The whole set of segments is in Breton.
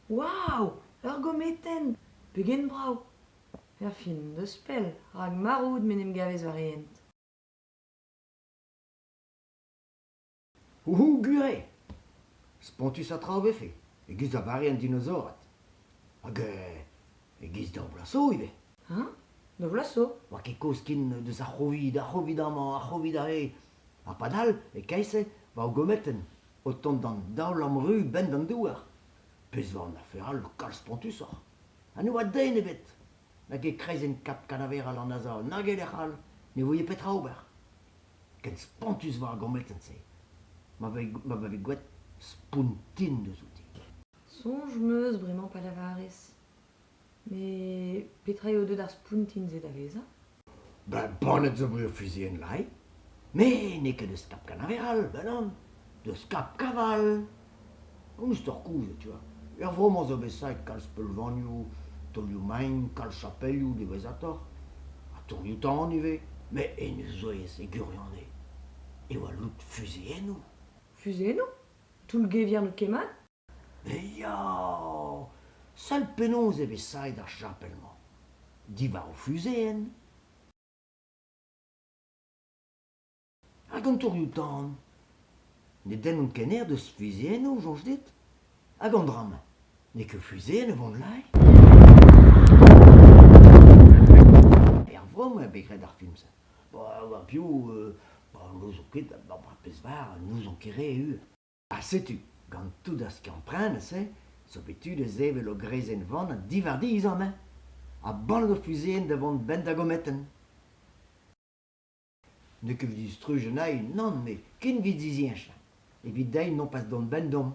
Waou, ur gometenn ! Pegen brav ! Perfin deus pell, rak maro out m'en em gavez war hent. Ouhou, gure! Spontus ha tra a vefe, e-giz da vare an dinosaored. Hag euh, e-giz d'ur Vlaso ivez. Hein? Da Vlaso ? Oa ket kozh ken deus ar c'hovid, ar c'hovid amañ, ar c'hovid ahe. Ha padal, e-keit-se, war o gometenn, o tont d'an daol-amru 'benn d'an douar. Pezh 'oa an afer all kalz spontusoc'h. Ha ne oa den ebet nag e kreizenn Kap Kanaveral an Azor nag e lec'h all ne voe petra ober. Ken spontus 'oa ar gometenn-se ma voe ma veze gwraet Spountin deuzouti. Soñj 'm eus bremañ pa lavarez. Met petra eo deuet ar spountin-se da vezañ? Ben poned zo bet o fuzuilh lae. Me n'eo ket deus Kap Kanaveral, ben on, deus Kap Kaval. Koulz oc'h kouzout, tu vois. Er vro-mañ zo bet saet kalz peulvanioù, taolioù-mein, kalz chapelioù diwezhatoc'h, ha tourioù-tan ivez. Met hennezh zo aes e gwirion eo, e oa lout fuzuilhennoù. Fuzuilhennoù? Toullgevier n'eo ket mat? Ya! Sell penaos eo bet saet ar chapel-mañ, diwar o fuzeenn hag an torioù-tan. Ne dennont ket aer deus fiziennoù, soñj dit? Hag an dra-mañ, n'eo ket fuzeenn e vont laez? Ervoa eo bet graet ar film-se. Ba piv, n'ouzon ket, ba pezh 'bar n'ouzon ket re, eu. Ha setu, gant tout ar skiant-prenet-se, zo bet tu da sevel ur greizenn-vann diwar dizh-amañ ha ball ur fuzuilhenn da vont 'benn da gometenn. N'eo ket distruj anezhi, nann, met ken 'vit ziziachañ. Evit dezhi nopas dont 'benn deomp.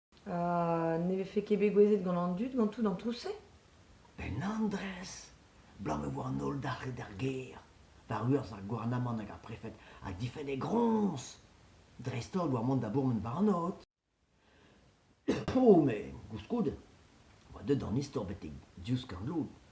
ne vefe ket bet gouezet gant an dud ganto d'an trouz-se? Un andrez! Blam e oa an holl dalc'het d'ar gêr. War urzh ar gouarnamant hag ar prefed a difenn e groñs, dreist-holl war mont da bourmen Barnod. O, me, koulskoude, oa deut an istor betek div skorn-lod.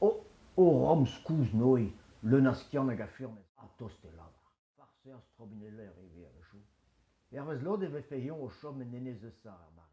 Oh, oh ramz-kouz Noe, leun a skiant hag a furnez, ha tost e lavar. Farser strobineller e vez a-wechoù. Hervez lod e vefe eñ o chom en enez eus ar mare-mañ.